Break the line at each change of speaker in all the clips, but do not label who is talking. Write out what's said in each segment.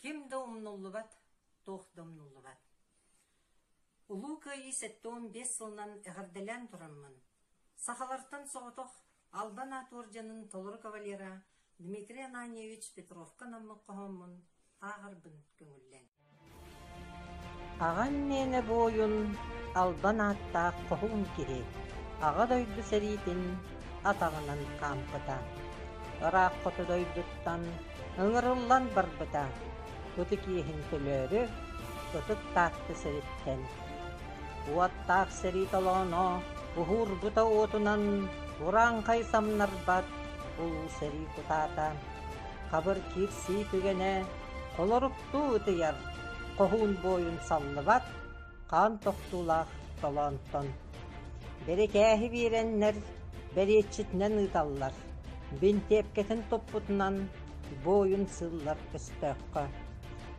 Ким да умнуллубат, туох да умнуллубат. Улуу Кыайыы сэттэ уон биэс сылынан эҕэрдэлээн тураммын, сахалартан соҕотох Албан аат уордьанын толору кавалера Дмитрий Ананьевич Петровка-Наммык хоһооммун ааҕарбын көҥүллэҥ. Аҕам мээнэ бу ойун албан ааттаах хоһуун киһи Аҕа дойду сэриитин атаҕынан хаампыта. Ыраах хоту дойдуттан ыҥырыллан барбыта. Ытык иэһин төлөөрү, ытык Таатта сэриттэн Уоттаах сэрии толооно буһуурбута уотунан урааҥхай самнарбат улуу сэрии кутаата, хабыр киирсии түгэнэ холоруктуу ытыйар хоһуун буойун саллыбат хаан тохтуулаах толоонтон. Бэрикээһи биэрэннэр бэриэтчитинэн ыыталлар, бинтиэпкэтин туппутунан буойун сыыллар көстөөххө.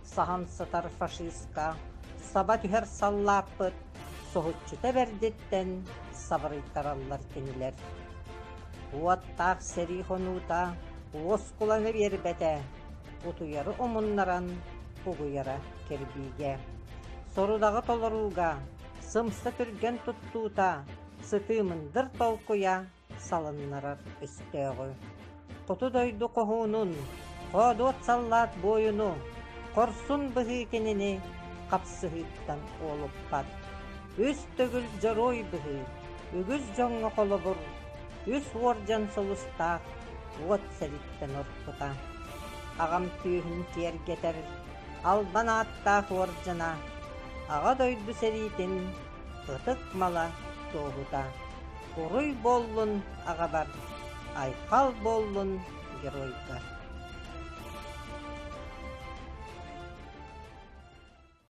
саһан сытар фашистка саба түһэр саллааппыт соһуччута бэрдиттэн сабырыйтараллар кинилэр. Уоттаах сэрии хонуута уоскуланы биэрбэтэ, утуйары умуннаран угуйара кирбиигэ. Сорудаҕы толорууга, сымса түргэн туттуута, сытыы мындыр толкуйа салыннарар өстөөҕү, Хоту дойду хоһуунун, хоодуот саллаат буойуну, хорсун быһыы кинини хапсыһыыттан уолуппат. Үс төгүл дьоруой быһыы, үгүс дьоҥҥо холобур, үс уордьан сулустаах уот сэриттэн орпута. Аҕам түөһүн киэргэтэр Албан ааттаах уордьана Аҕа дойду сэриитин ытык мала туоһута уруй буоллун аҕабар айхал буоллун геройга